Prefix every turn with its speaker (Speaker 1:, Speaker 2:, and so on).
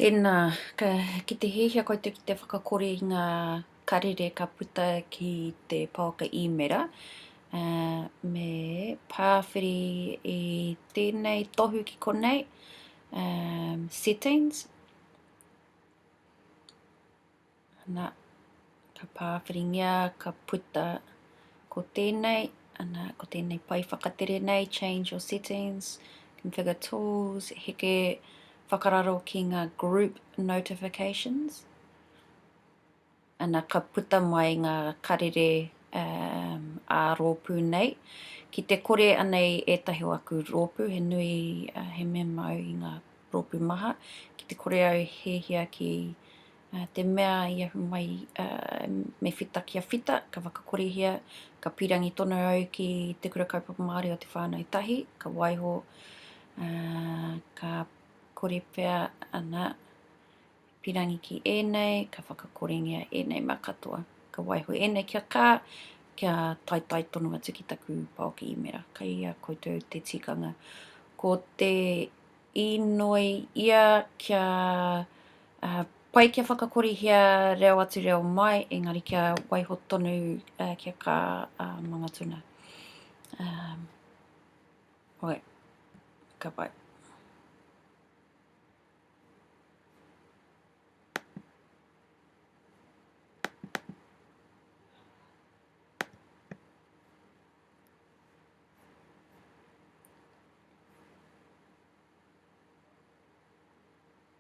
Speaker 1: Tēnā, ki te hiahia koutou ki te whakakore i ngā karere ka puta ki te pouaka īmera, me pāwhiri i tēnei tohu ki konei, Settings. Ana, ka pāwhiringia, ka puta. Ko tēnei, ana, ko tēnei pae whakatere nei, change your settings, configure tools, heke whakararo ki ngā group notifications. Ana, ka puta mai ngā karere um, ā rōpū nei. Ki te kore anei ētahi o aku rōpū, he nui, uh, he mema au i ngā rōpū maha, ki te kore au hēhia ki Te mea i ahu mai me whita kia whita, ka whakakorehia, ka pīrangi tonu au ki Te Kura Kaupapa Māori o Te Whānau Tahi, ka waiho, ka kore pea ana pīrangi ki ēnei, ka whakakorengia ēnei mea katoa. Ka waiho ēnei kia kā, kia taetae tonu atu ki taku pā o Kiimera. Kai a koutou te tikanga. Ko te inoi ia kia Pai kia whakakorihia reo atu reo mai, engari kia waiho tonu kia ka mangatuna. Oe, ka pai.